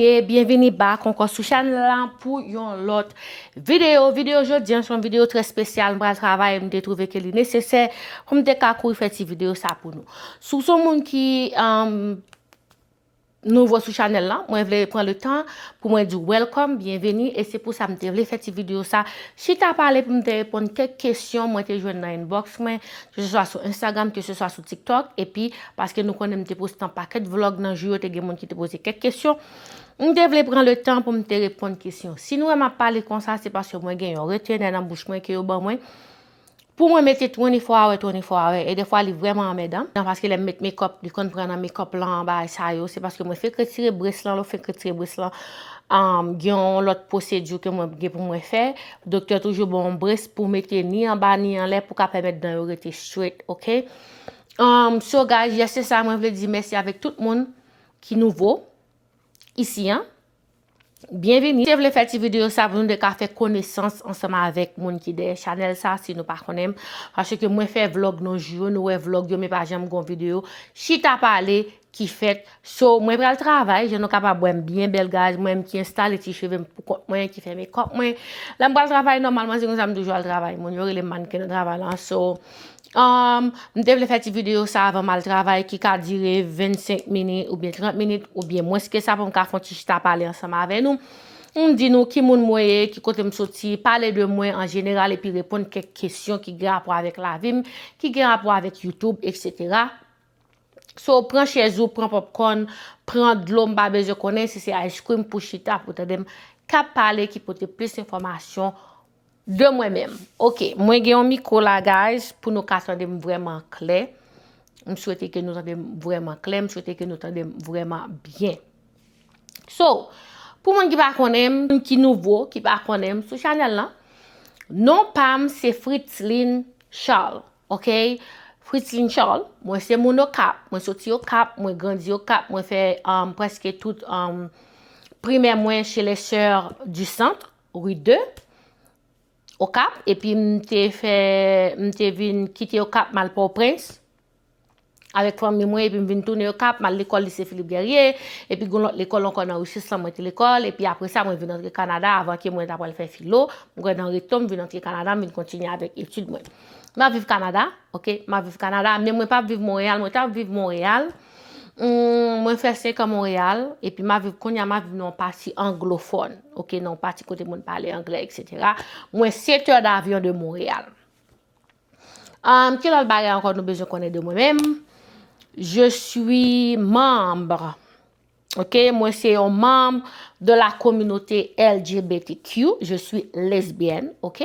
Ye, byenvini bak ankò sou chanèl la pou yon lòt videyo. Videyo jodi an se yon videyo trè spesyal m pral travay e m te twouve ke li nesesè pou m te ka kouri fè ti videyo sa pou nou. Si w se yon moun ki nouvo sou chanèl la, mwen vle pran le tan pou mwen di w welcome, byenvini e se pou sa m te vle fè ti videyo sa chita pale pou m te reponn kèk kesyon mwen te jwenn nan inbox mwen ke se swa sou Instagram, ke se swa sou TikTok, epi paske nou konnen m te poste an pakèt vlog nan jou yo te gen moun ki te poze kèk kesyon, m te vle pran le tan pou m te reponn kesyon. Si nou wè m ap pale konsa se paske mwen gen yon retenè nan bouch mwen ke yo ban mwen pou mwen mete 24 hour 24 hour e defwa li vrèman anmèdan nan paske lè m met mekòp li konn pran nan mekòp lan bagay sa yo se paske mwen fenk retire bress lan lè w fenk retire bress lan gen yon lòt pwosedi ke mwen gen pou mwen fè Doktè toujou ba w yon brest pou w mete ni anba ni anlè pou ka pèmèt dan yo rete straight ok um so guys yes se sa mwen vle di mèsi avèk tout moun ki nouvo isi an byenvini te vle fè ti video sa pou nou de ka fè konesans ansanm avèk moun ki dèyè chanèl sa si nou pa konnen m paske mwen fè vlog nan jou yo nou wè vlog yo men pa janm gon video chita pale ki fèt so mwen pral travay jan nou kapab wèm byen bèl gaz mwen ki enstale ti chevem pou kont mwen ki fè mekòp mwen lè m pral travay nòmalman se konsa m toujou al travay moun yo rele m mannken nan travay lan so Um, m te vle fè ti videyo sa avan mal travay ki ka dire 25 minit ou byen 30 minit ou byen mwens ke sa pou m ka fon ti chita pale ansanm avè nou. M di nou ki moun mwen ye, ki kote m soti, pale de mwen an jeneral epi reponn kèk kesyon ki gen rapò avèk lavi m, ki gen rapò avèk YouTube, etc. So pran chèz ou, pran popcorn, pran dlo m pa bezwen konnen si se ice cream pou chita pou tande m kap pale ki pote plis enfòmasyon de mwen menm. Ok, mwen gen yon mikro la guys pou nou ka tande m vrèman klè. M swete ke nou tande m vrèman klè, m swete ke nou tande m vrèman byen. So, pou moun ki pa konnen m, moun ki nouvo, ki pa konnen m sou chanèl lan, non pa m se Fritzline Charles. Ok Fritline Charles mwen se moun okap mwen soti okap mwen grandi okap mwen fè um, preske tout um, primè mwen chez les sœurs du centre rue 2 okap epi m te fè m te vin kite okap mal port au prince Avèk fanmi mwen epi m vin tounen Okap, m al lekòl Lise Philippe Guerrier, epi gen yon lòt lekòl ankò nan Riches lan mwen te lekòl, epi apre sa mwen vin antre Kanada avan ke mwen ta pral fè filo, m kwè nan reto m vin antre Kanada m vin kontinye avèk etid mwen. M ap viv Kanada, ok, m ap viv Kanada, men mwen p ap viv Monreyal, mwen t ap viv Monreyal, mwen fè senkan Monreyal, epi m ap viv, kounye a m ap viv nan yon pati anglofòn, ok, nan yon pati kote moun pale anglè, eksetera, mwen setè davyon de Monreyal. Um, ki lòt bagay ankò nou bezwen konnen de mwen menm? Je suis membre. Ok, mwen se yon membre de la communauté LGBTQ. Je suis lesbienne, ok?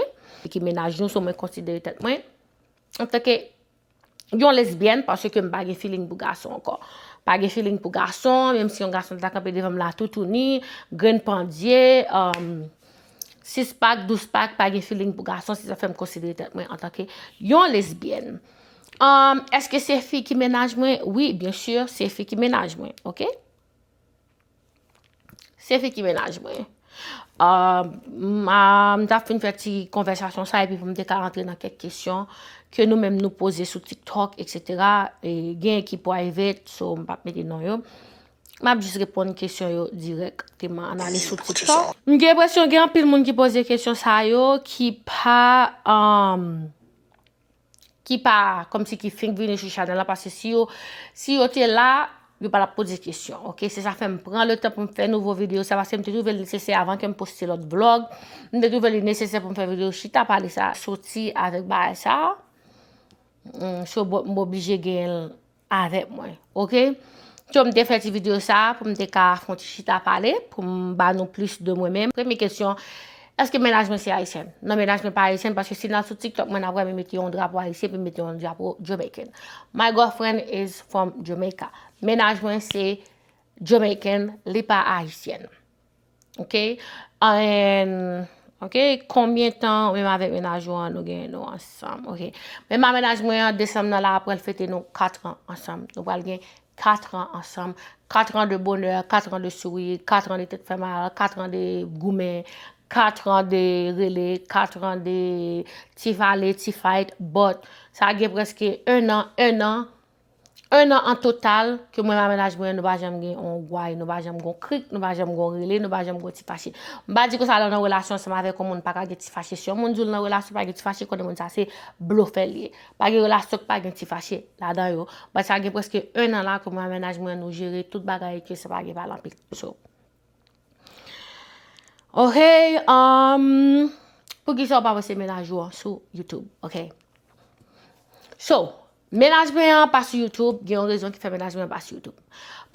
Ki menaj nou, so mwen konsidere tèt mwen. An tan ke yon lesbienne, parce ke m pa gen feeling pou gason ankò. Pa gen feeling pou gason, menm si yon gason ta kanpe devan m la toutouni, grenn pandye, um, 6 pack, 12 pack, pa gen feeling pou gason, se sa fèm konsidere tèt mwen antanke yon lesbyèn. Um, eske se fi ki menaj mwen? Oui, bien sûr, se fi ki menaj mwen, ok? Se fi ki menaj mwen. Um, m ta fin fè ti konvèsasyon sa epi pou m te ka antre nan kèk kesyon ke nou menm nou poze sou TikTok, etc. E gen ki private, so m pap mete non yo. Map jis reponn kesyon yo dirèk teman an ale sou tiktok. M gen enpresyon gen anpil moun ki poze kesyon sa yo ki pa ki pa komsi ki fink vini sou chanèl la paske si yo si yo te la yo pa tap poze kesyon ok se sa fèm pran le tan poum fè nouvo video sa paske m te twouve l nesesè avan kem poste lòt vlog m te twouve li nesesè poum fè video chita pale sa soti avèk bagay sa so m oblije genyen l avèk mwen ok so m te fè ti video sa pou m te ka fon ti chita pale pou m ba nou plis de mwen menm premye kesyon eske mennaj mwen se ayisyen non mennaj mwen pa ayisyen paske si nan sou tiktok mwen nan wè mwen mete yon drapo ayisyen pou m mete yon drapo jamaican my girlfriend is from Jamaica mennaj mwen se jamaican li pa ayisyen. Ok and Ok konbyen tan ou menm avèk mennaj ou an nou gen nou ansanm ok menm a mennaj mwen an desanm nan la apral fete nou 4 ans ansanm nou pral gen 4 ans ansanm 4 ans de bonheur 4 ans de sourire 4 ans de tèt fè mal 4 ans de goumen 4 ans de rele 4 ans de ti vale ti fight but sa gen preske 1 ans 1 ans 1 an an total ke mwen ma menaj mwen nou pa janm gen yon gway, nou pa janm gen yon krik, nou pa janm gen yon rele, nou pa janm gen yon ti fache. M pa di konsa lè w nan relasyon ansanm avèk yon moun pa ka gen ti fache. Si yon moun di w l nan relasyon pa gen ti fache konnen moun sa se blofè l ye. Pa gen relasyon k pa gen ti fache ladan yo. Bat sa gen prèske 1 an la ke mwen a menaj mwen nou jere tout bagay e ke sa pa gen pale anpil. So. Ohey um poukisa w pa poste menaj ou an sou YouTube. Ok. So. Mennaj mwen an pa sou YouTube, gen yon rezon ki fè mennaj mwen an pa sou YouTube.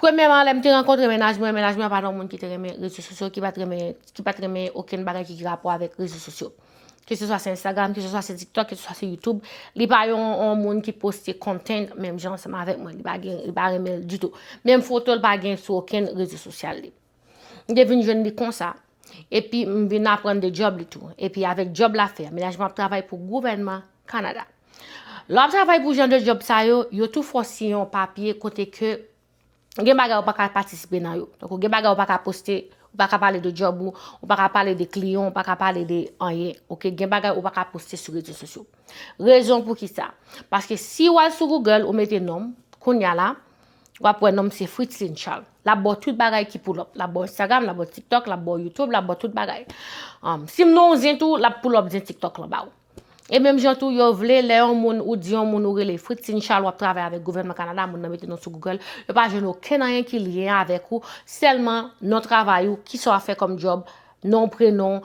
Premyèman, lè m te rankontre mennaj mwen, mennaj mwen an pa t yon moun ki te renmen rezo sosyo, ki pa t renmen, ki pa t renmen okenn bagay ki gen rapò avèk rezo sosyo. Ke se swa se Instagram, ke se swa se TikTok, ke se swa se YouTube, li pa yon moun ki poste content menm jan ansanm avèk mwen, li pa gen, li pa renmen l ditou. Menm foto l pa gen sou okenn rezo sosyal li. M te vin jwenn li konsa. Epi m vin aprann de djòb li tou. Epi avèk djòb la fè, menaj mwen ap travay pou gouvènman Kanada. Lè w ap travay pou jan de djòb sa yo, yo tou fè w siyen yon papye kote ke gen bagay ou pa ka patisipe nan yo. Donk ou gen bagay ou pa ka poste, ou pa ka pale de djòb ou, ou pa ka pale de kliyan, ou pa ka pale de anyen. Ok, gen bagay ou pa ka poste sou rezo sosyo. Rezon pou ki sa? Paske si w al sou Google, ou mete non m, kounya la, wap wè nonm se Fritzline Charles. Lap ba w tout bagay ki pull up. Lap ba w Instagram, lap ba w TikTok, lap ba w YouTube, lap ba w tout bagay. Um, si m nan yon zen tou, lap pull up zen TikTok lan ba w. E menm jan tou, yo vle lè yon moun ou di yon moun ou rele Fritzline Charles wap travay avèk gouvènman Kanada, moun nan mete non sou Google, yo pa jwenn okenn anyen ki lyen avèk ou, sèlman non travay ou, kisa w ap fè kòm job, non, prenon,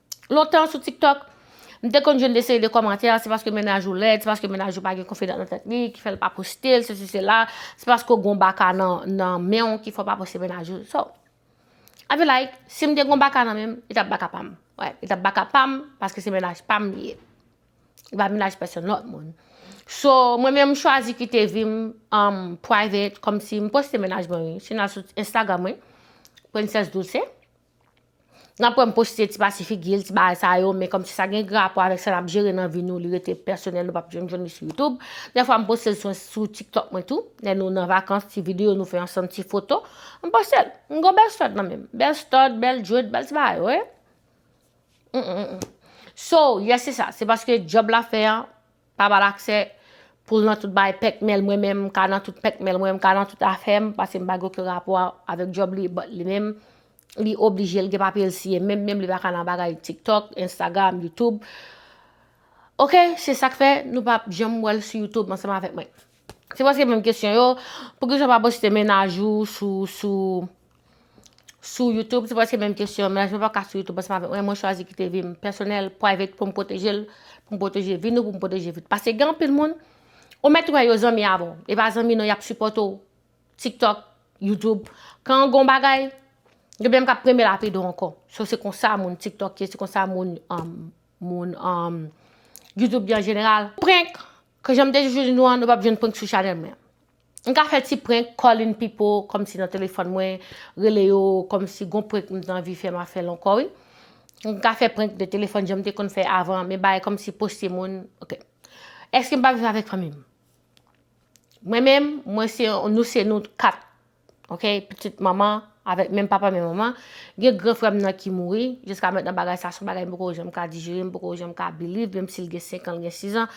Lontan sou tiktok, m te konn jwenn de seri de kòmantè, se paske mennaj ou lèd, se paske mennaj ou pa gen konfidans nan tèt li ki fè l pa poste l, sesi sela, se paske w gen yon baka nan men w ki fè w pa poste mennaj ou. So, I be like, si m te gen yon baka nan men m, li t ap baka pa m. Wè, li t ap baka pa m, paske se mennaj pa m li ye. Li pa mennaj pèsonn lòt moun. So, mwen menm m chwazi kite vi m private, kòmsi m poste mennaj mwen wi. Si nou al sou Instagram mwen, Princess Douce. Nan pwen m poste ti pati figil, ti bagay sa yo, men kòmsi sa gen rapò avèk sa nap jere nan vi nou, li rete pèsonèl nou pap janm jwenn li sou YouTube. Dè fwa m poste l sou TikTok mwen tou, lè nou nan vakans, ti videyo nou fè ansanm, ti foto, m poste l. M gon bèl stòd nan menm, bèl stòd, bèl djwed, bèl ti bagay, oye. So, yes se sa, se paske djòb la fè an, Pa bal aksè poul nan tout bagay pèkmèl mwen menm mka nan tout pèkmèl mwen mka nan tout afèm paske mpa gen oken rapò avèk djòb li but li menm li oblije li gen papyel siye menm menm li paka nan bagay tiktok instagram youtube ok se sak fè nou pap janm wèl sou youtube ansanm avèk mwen. Se preske menm kesyon yo, poukisaw pa poste mennaj ou sou sou sou youtube, se preske menm kesyon yo, mennaj mwen paka sou youtube ansanm avèk mwen, mwen chwazi kite vim pèsonèl, private poum pwotejel, poum pwoteje vi nou, poum pwoteje vi nou. Pase gen anpil moun, ou mèt wè yo zanmi avèw, e pa zanmi non yap sipòte w, tiktok, youtube, kan gon bagay, yo menm kap premye la pede w ankò. So se konsa moun tiktok ye, se konsa moun moun youtube ye an jeneral. Prank! K janm te toujou di nou an nou pap jwenn prank sou chanèl mwen an. M ka fè ti prank, calling people kòmsi nan telefòn mwen, rele yo kòmsi gon prank m t anvi fè ma fèl ankò wi. M ka fè prank de telefòn janm te konn fè avan men bagay kòmsi poste moun ok. Eske m pa viv avèk fanmi m? Mwen menm mwen se nou se nou 4. ok pitit manman avèk menm papa menm manman gen gran frèm nan ki mouri jiska mètnan bagay sa son bagay m poko janm ka dijere m poko janm ka biliv menm sil gen 5 ans l gen 6 ans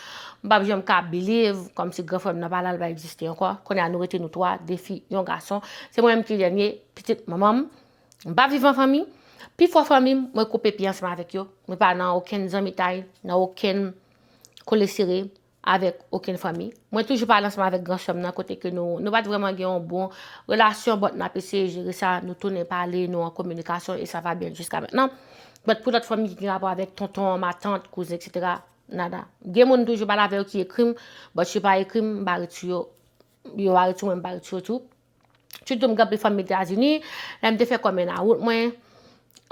m pap janm ka biliv kòmsi gran frèm nan pa la l pa egziste ankò kounye a nou rete nou 3 2 fi yon gason se mwen menm ki dènye pitit manman m m pa viv an fanmi pi fò fanmi m mwen koupe pi ansanm avèk yo mwen pa nan okenn zanmitay nan okenn kole sere. avèk okenn fanmi. Mwen toujou pale ansanm avèk gran sè m nan kote ke nou pat vrèman gen yon bon relasyon but nap eseye jere sa, nou tounen pale, nou an kominikasyon e sa va byen jiska mentnan. But pou lòt fanmi ki gen rapò avèk tonton, matant, kouzen etc. Nada. Gen moun m toujou pale avè yo ki ekri m but yo pa ekri m, m pa rete sou yo, yo pa rete sou mwen m pa rete sou yo tou. Chut tou m gen anpil fanmi Etazini, lè m te fè kòmè nan wout mwen,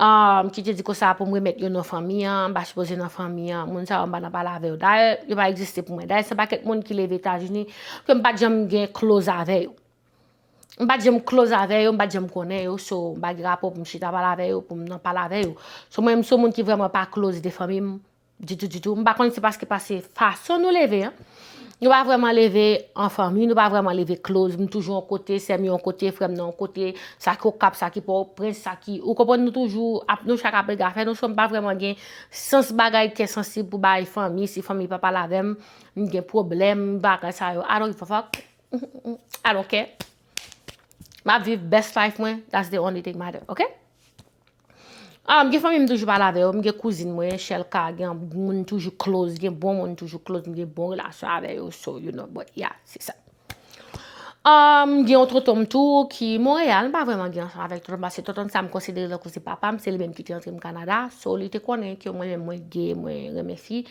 m ki te di konsa pou m remèt yo nan fanmi an, m pa sipoze nan fanmi an, moun sa yo m pa nan pale avè yo. Dayè, yo pa egziste pou mwen. Dayè, se pakèt moun ki leve Etazini ke m pa t janm gen kloz avè yo. M pa t janm kloz avè yo, m pa t janm konnen yo, so m pa gen rapò pou m chita pale avè yo, pou m nan pale avè yo. So mwen m se yon moun ki vrèman pa kloz de fanmi m. Ditou ditou, m pa konn se paske pase fason nou leve an, nou pa vrèman leve an fanmi, nou pa vrèman leve close, m toujou yon kote, sè m yo yon kote, frè m nan yon kote, sa ki Okap, sa ki Pòtoprens, sa ki, ou konprann nou toujou, ap nou chak ap rega fè nou, so m pa vrèman gen sans bagay kè sansib pou bay fanmi, si fanmi pa pale avè m, m gen pwoblèm, bagay sa yo, I don't give a fuck, I don't care, m ap viv best life mwen, that's the only thing matter, ok? Ah m gen fanmi m toujou pale avè yo, m gen kouzin mwen, Shelka, gen moun toujou close, gen bon moun toujou close, m gen bon relasyon avè yo, so you know, but yeah, se sa. Ah, m gen yon tonton m tou ki Montréal, m pa vrèman gen ansanm avèk tonton m, paske tonton m sa m konsidere tankou se papa m, se li menm ki te antre m Kanada, so li te konnen ke mwen menm mwen gay, mwen renmen fi,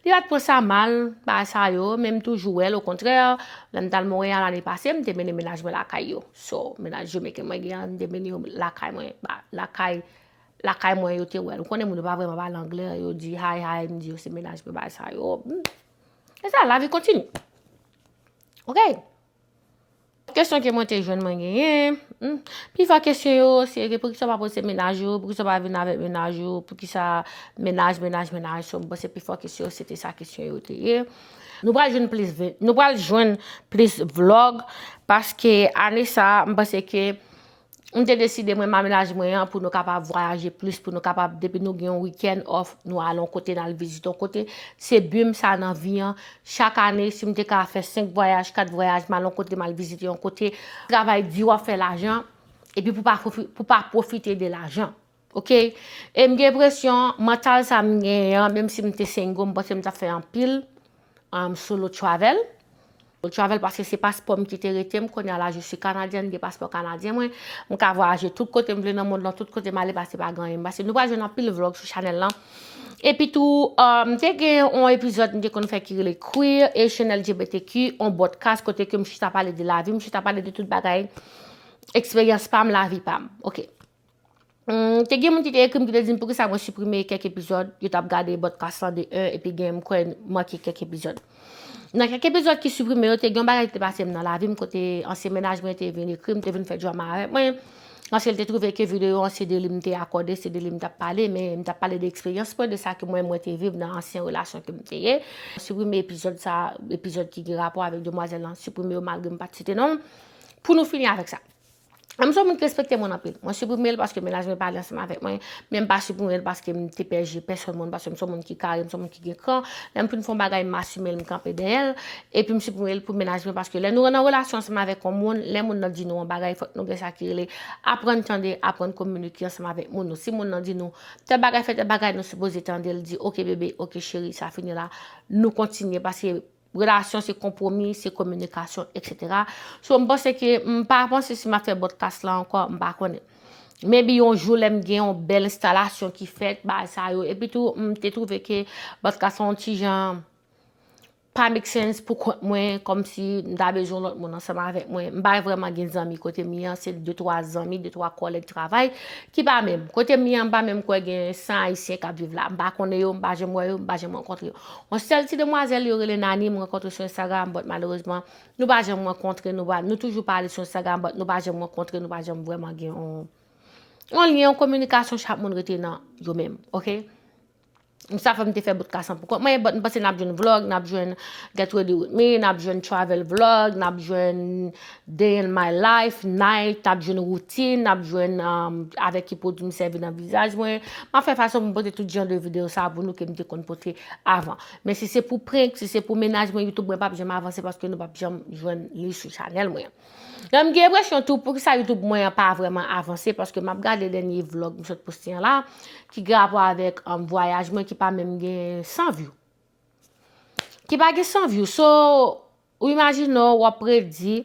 li pa t pran sa mal, bagay sa yo, men m toujou wè l, okontrè, lè m t al Montréal ane pase, m te mennen mennaj mwen lakay yo. So mennaj Jemeken mwen gen an demen yo lakay mwen ba lakay lakay mwen yo te wèl. Ou konnen moun yo pa vreman pale anglè yo di hi hi m di yo se mennaj mwen bay sa yo. E sa lavi kontini. Ok. Kesyon ke mwen te jwenn mwen genyen. Hmm. Pi fò kesyon yo se ke poukisa pa poze mennaj yo, poukisa pa vin avèk mennaj yo, poukisa mennaj mennaj mennaj so m panse pi fò kesyon se te sa kesyon yo te ye. Nou pral jwenn plis nou pral jwenn plis vlog paske ane sa m panse ke m te deside mwen ma menaj mwen an pou nou kapab vwayaje plis pou nou kapab depi nou gen yon weekend off nou al yon kote nan vizite yon kote se but m sa nan vi an chak ane si m te ka fè 5 vwayaj 4 vwayaj m al yon kote m al vizite yon kote travay di w ap fè lajan epi pou pa pou pa pwofite de lajan. Ok e m gen presyon mantal sa m genyen an menm si m te single m panse m tap fè anpil um solo travel solo travel paske se paspò m ki te rete m kounye a la je suis canadienne m gen paspò kanadyen mwen m ka vwayaje tout kote m vle nan mond lan tout kote m ale pase pa gen anyen pase nou pral jwenn anpil vlog sou chanèl lan epi tou um te gen yon epizòd m te konn fè ki rele queer Haitian LGBTQ yon bòdkas kote ke m chita pale de lavi m chita pale de tout bagay eksperyans pa m lavi pa m ok. Humm te gen moun ki te ekrim ki te dim poukisa mwen siprime kèk epizòd yo tap gade podcast lan de 1 epi gen m kwè manke kèk epizòd. Nan kèk epizòd ki siprime yo te gen yon bagay ki te pase m nan lavi m kote ansyen mennaj mwen te vin ekrim te vin fè drama avèk mwen paske l te twouve ke videyo an se de li m te akòde se de li m tap pale men m tap pale de eksperyans mwen de sa ke mwen mwen te viv nan ansyen relasyon ke m te ye. Siprime epizòd sa epizòd ki gen rapò avèk demwazèl lan siprime yo malgre m pat site non l pou nou fini avèk sa. M son moun ki respekte moun anpil. Mwen siprime l paske menaj mwen pale ansanm avèk mwen, men m pa siprime l paske m te pè je pèsòn moun paske m son moun ki kare, m son moun ki gen kran. Lè m fin fè yon bagay, m asime l, m kanpe dèyè l. Epi m siprime l pou menaj mwen paske lè nou nan relasyon ansanm avèk yon moun, lè moun nan di nou yon bagay, fòk nou gen sa ki rele aprann tande, aprann kominike ansanm avèk moun nou. Si moun nan di nou tèl bagay fè tèl bagay, nou sipoze tande l, di ok bebe, ok cheri, sa fini la, nou kontinye paske Relasyon se konpwomi, se kominikasyon etc. So m panse ke m pa panse si m ap fè bòdkas la ankò, m pa konnen. Maybe yon jou lè m gen yon bèl enstalasyon ki fèt, bagay sa yo. Epi tou m te twouve ke bòdkas la yon ti jan pa make sense pou kont mwen kòm si m ta bezwen lòt moun ansanm avèk mwen. M pa vrèman gen zanmi kote m ye an, se de twa zanmi, de twa kòlèg travay ki pa menm. Kote m ye an m pa menm kwè gen 100 ayisyen k ap viv la. M pa konnen yo, m pa janm wè yo, m pa janm rankontre yo. Yon sèl ti demwazèl yo rele Nani m rankontre sou Instagram but malerezman nou pa janm rankontre nou pa nou toujou pale sou Instagram but nou pa janm rankontre nou pa janm vrèman gen yon yon lyen yon kominikasyon chak moun rete nan yo menm ok sa fè m te fè bout kasan pou kont mwen but m panse n ap jwenn vlog n ap jwenn get ready with me n ap jwenn travel vlog n ap jwenn Day in my life, night, ap jwenn routine, ap jwenn avèk ki pwodwi m sèvi nan vizaj mwen. M ap fè fason pou m pote tout jan de videyo sa pou nou ke m te konn pote avan. Men si se pou prank, si se pou mennaj mwen, YouTube mwen p ap janm avanse paske nou p ap janm jwenn li sou chanèl mwen. Epi m gen enpresyon tou poukisa YouTube mwen an pa vrèman avanse paske m ap gade dènye vlog m sot poste an la ki gen rapò avèk vwayaj mwen ki pa menm gen 100 view. Ki pa gen 100 view. So, ou imajine w ap redi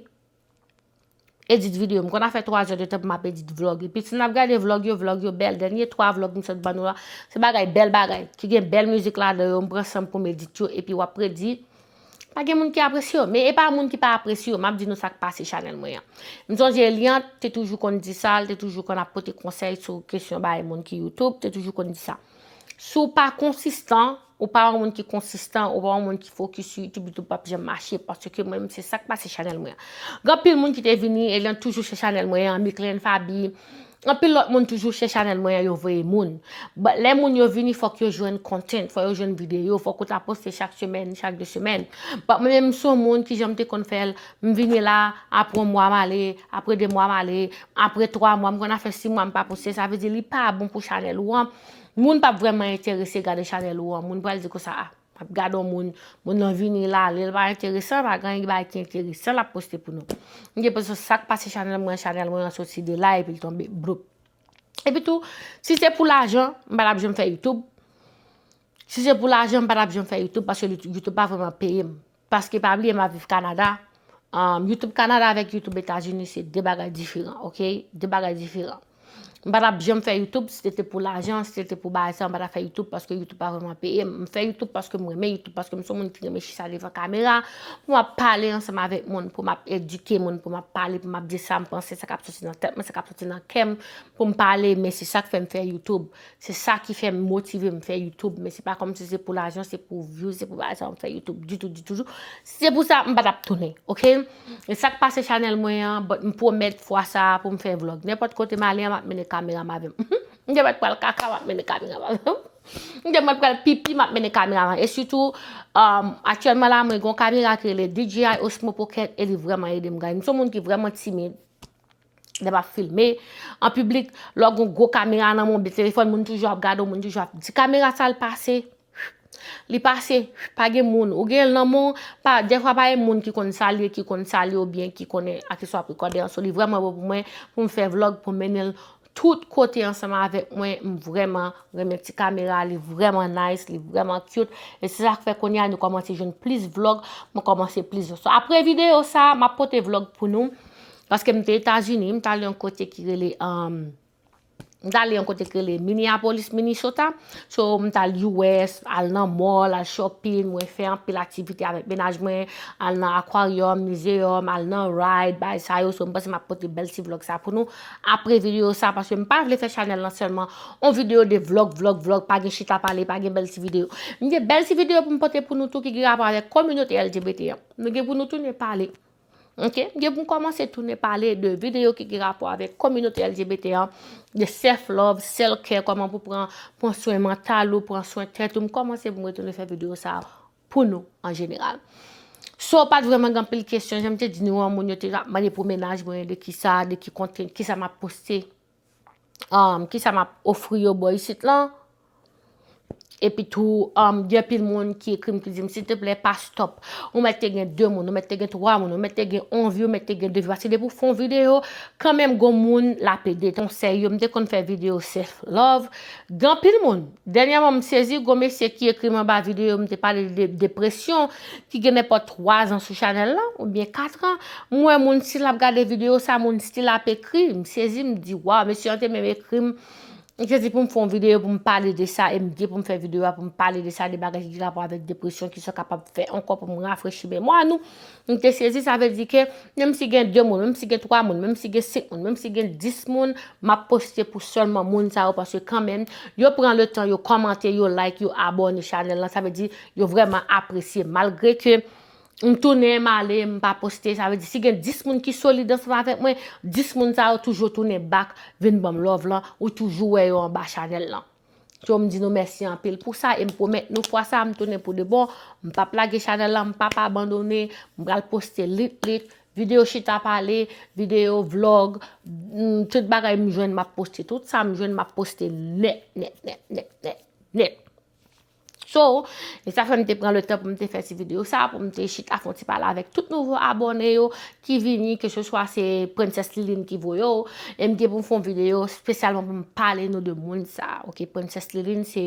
edit video. M konn a fè 3 zè de tan pou m ap edit vlog. Epi si n ap gade vlog yo, vlog yo bèl. Dènye 3 vlog m sot ban nou la, se bagay bèl bagay. Ki gen bèl mizik ladan yo, m pran san m pou m edit yo. Epi w ap redi, pa gen moun ki apresye yo. Men e pa moun ki pa apresye yo. M ap di nou sa k pase chanèl mwen an. M sonje Eliante te toujou konn di sa, li te toujou konn ap pote konsèy sou kesyon bay moun ki Youtube. Li te toujou konn di sa. Si w pa konsistan. Ou pa yon moun ki konsistan, ou pa yon moun ki fokis sou YouTube, YouTube pap janm mache paske mwen menm se sak pase chanèl mwen an. Gen anpil moun ki te vini, Eliante toujou se chanèl mwen an, Micklene Faby, anpil lòt moun toujou se chanèl mwen an yo voye moun. But lè moun yo vini fòk yo jwenn content, fòk yo jwenn videyo, fòk ou ta poste chak semèn, chak 2 semèn. But mwen menm m son moun ki jan m te konn fè l, m vini la, aprè yon mwa m ale, aprè 2 mwa m ale, aprè 3 mwa, m konn a fè 6 mwa m pa poste, sa vle di li pa bon pou chanèl ou an. Moun pap vrèman enterese gade chanèl ou an, moun pral di konsa ah map gade yon moun, moun nan vini la, lèl pa enteresan, pa gen anyen bagay ki enteresan lap poste pou nou. M gen enpresyon sak pase chanèl mwen, chanèl mwen an soti de la epi l tonbe bloup. Epi tou, si se pou lajan, m pa tap janm fè youtube, si se pou lajan m pa tap janm fè youtube paske youtube pa vrèman peye m. Paske pa bliye map viv Canada um YouTube Canada avèk YouTube Etazini se 2 bagay diferan ok 2 bagay diferan m pa tap janm fè YouTube si se te pou lajan si se te pou bagay sa m pa tap fè YouTube paske YouTube pa vreman peye m m fè YouTube paske m renmen YouTube paske m son moun ki renmen chita devan kamera pou map pale ansanm avèk moun pou map edike moun pou map pale pou map di sam panse sa kap soti nan tèt mwen sa kap soti nan kèm pou m pale men se sak fè m fè YouTube Se sa ki fè m motive m fè youtube men se pa kòm si se pou lajan se pou views se pou lajan m fè youtube ditou ditou jou si se pou sa m pa tap tounen ok e sak pase chanèl mwen an but m pwomèt fwa sa pou m fè vlog nenpòt kote m ale an m ap mennen kamera m avè m humm m te mèt pral kaka m ap mennen kamera m avè m m te mèt pral pipi m ap mennen kamera m avè m e sitou ahh aktyèlman la mwen gen yon kamera ki rele DJI Osmo Pocket e li vrèman ede m guys m se yon moun ki vrèman timid Lè map filme an piblik, lè w gen yon gwo kamera nan men w, telefòn, moun toujou ap gade w, moun toujou ap di kamera sa l pase, li pase, pa gen moun, ou gen l nan men w, pa, dèfwa pa gen moun ki konn sa l ye, ki konn sa l ye oubyen ki konnen a ki sa w ap rekòde an, so li vrèman bon pou mwen pou m fè vlòg, pou m mennen l tout kote ansanm avèk mwen, m vrèman renmen ti kamera a, li vrèman nice, li vrèman cute, e se sa k fè kounye a nou kòmanse jwenn plis vlòg, mwen kòmanse plis vlòg. So apre videyo sa, map pote vlòg pou nou. Paske m te Etazini, m t ale yon kote ki rele, m t ale yon kote ki rele Minneapolis, Minnesota. So, m t al US, al nan mall, al shopping, mwen fè anpil aktivite avèk mennaj mwen, al nan aquarium, museum, al nan ride, bagay sa yo. So, m panse m ap pote bèl ti vlog sa pou nou apre videyo sa, paske m pa vle fè chanèl lan sèlman yon videyo de vlog, vlog, vlog, pa gen chita pale, pa gen bèl ti videyo. M gen bèl ti videyo pou m pote pou nou tou ki gen rapò avèk kominote LGBT an. Nou gen pou nou tounen pale. Ok, m gen pou m kòmanse tounen pale de videyo ki gen rapò avèk kominote LGBT an, de self love, self care, kòman pou pran pran swen mantal ou, pran swen tèt ou, m kòmanse pou m retounen fè videyo sa a pou nou an jeneral. So pat vreman gen anpil kesyon, jan m te di nou an, moun yo te ap mande pou mennaj mwen, de kisa, de ki kontni, kisa m ap poste. ki sa map ofri yo bò isit lan, epi tou gen anpil moun ki ekri m ki di m silteplè pa stop, ou mèt te gen 2 moun, ou mèt te gen 3 moun, ou mèt te gen 1 vi, ou mèt te gen 2 vi, paske depi w fon videyo, kanmenm gon moun lap ede, konsèy yo, m te konn fè videyo self love, gen anpil moun. Dènyèman m sezi gon mesye ki ekri m anba videyo m te pale de depresyon ki gen nenpòt 3 zan sou chanèl lan oubyen 4 an m wè moun stil ap gade videyo sa moun stil ap ekri m sezi m di waw mesye an te menm ekri m li te di pou m fè yon videyo pou m pale de sa e m gen pou m fè videyo a pou m pale de sa de bagay ki gen rapò avèk depresyon kisa w kapab fè ankò pou m rafrechi memwa nou M te sezi sa vle di ke menm si gen 2 moun, menm si gen 3 moun, menm si gen 5 moun, menm si gen 10 moun, m ap poste pou sèlman moun sa yo paske kanmenm yo pran le tan yo kòmante, yo like, yo abòne chanèl lan sa vle di yo vrèman apresye malgre ke m tounen m ale m pa poste sa vle di si gen 10 moun ki solid ansanm avèk mwen 10 moun sa yo toujou tounen back vin banm love lan ou toujou wè yo anba chanèl lan. Yo m di nou mèsi anpil pou sa e m pwomèt nou fwa sa a m tounen pou de bon, m pap lage chanèl la, m pap abandone, m pral poste lit lit, videyo chita pale, videyo vlog, tout bagay m jwenn m ap poste, tout sa m jwenn m ap poste nèt nèt nèt nèt nèt nèt. So, e sa fè m te pran le tan pou m te fè ti videyo sa, pou m te chita fon ti pale avèk tout nouvo abòne yo ki vini, ke se swa se Princess Liline ki voye w, e m gen pou m fon videyo spesyalman pou m pale nou de moun sa, ok, Princess Liline se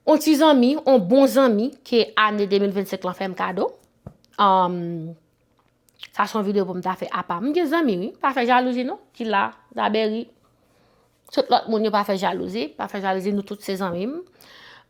on ti zanmi, on bon zanmi ke ane 2025 lan fè m kado. Um, sa son videyo pou m ta fè apa. M gen zanmi, wi, pa fè jalouzi non, ki la, zabèri. Tout lòt moun yo pa fè jalouzi, pa fè jalouzi nou tout se zanmi m.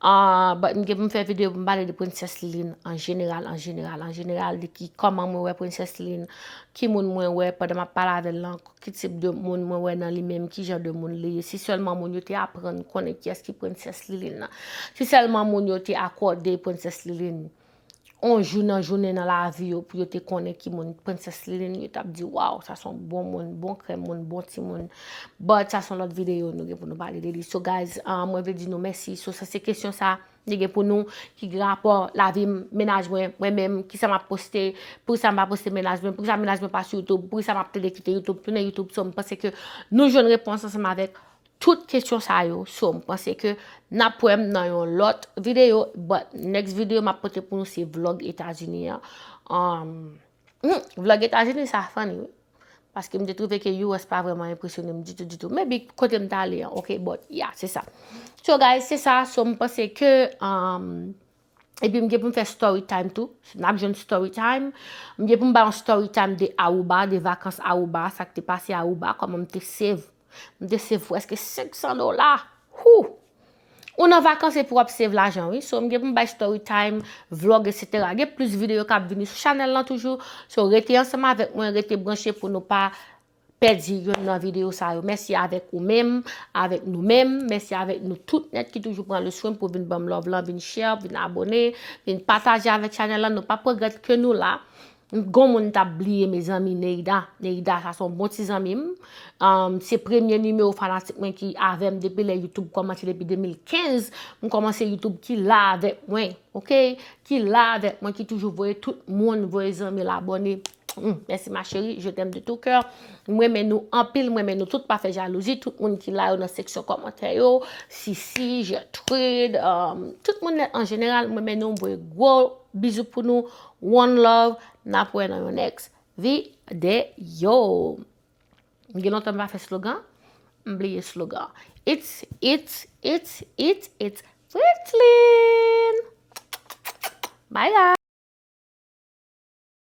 Ah but m gen pou m fè video pou m pale de Princess Liline an jeneral, an jeneral, an jeneral de ki kòman mwen wè Princess Liline, ki moun mwen wè pandan m ap pale avè l lan, ki tip de moun mwen wè nan li menm, ki jan de moun li ye, si sèlman moun yo te aprann konnen kiyès ki Princess Liline lan, si sèlman moun yo te akòde Princess Liline. yon jou nan jounen nan lavi yo pou yo te konnen ki moun Princess Liline yo tap di waw sa son bon moun, bon krèm moun, bon ti moun but sa son lòt videyo nou gen pou nou pale de li so guys ah, mwen vle di nou mèsi so sa se kesyon sa nou gen pou nou ki gen rapò lavi m, mennaj mwen, mwen menm ki sa map poste, pou ki sa m pa poste mennaj mwen, pou ki sa mennaj mwen pa sou youtube, pou ki sa map tande kite youtube, tounen youtube so m panse ke nou jwenn repons ansanm avèk. Tout kesyon sa yo so m panse ke nap wè m nan yon lòt videyo but next videyo map pote pou nou se vlog etazini an um humm vlog etazini sa funny wi paske m te trouve ke US pa vrèman enpresyone m ditou ditou maybe kote m t ale an ok but yeah se sa so guys se sa so m panse ke um Epi m gen pou m fè story time tou. N ap jwenn story time. M gen pou m bay yon story time de Aruba, de vakans Aruba, sa k te pase Aruba, kòman m te save. M te save prèske 500 dola! Hoo! Ou nan vakans epi w ap save lajan wi. So m gen pou m bay story time, vlog etc. Gen plis videyo k ap vini sou chanèl lan toujou. So rete ansanm avèk mwen, rete branche pou nou pa pèdi youn nan videyo sa yo. Mèsi avèk ou menm, avèk nou menm, mèsi avèk nou tout nèt ki toujou pran le swen pou vin banm love lan, vin share, vin abone, vin pataje avèk chanèl lan, nou pap regrèt ke nou la. Gon moun m tap bliye mezanmi Neida, Neida sa son bon ti zanmi m, se premye nimewo fanatik mwen ki avèm depi lè YouTube kòmanse depi 2015, m kòmanse YouTube ki la avèk mwen, ok, ki la avèk mwen ki toujou voye tout moun, voye zanmi l abone. Humm merci ma chérie je t'aime de tout cœur m renmen nou anpil m renmen nou tout pa fè jalouzi tout moun ki la yo nan seksyon kòmantè yo sisi gertrude um, tout moun an jeneral m renmen nou m voye gwo bizou pou nou one love nap wè nan yon next video m gen lontan m pa fè slogan m bliye slogan it's it's it's it's it's Fritline bye guys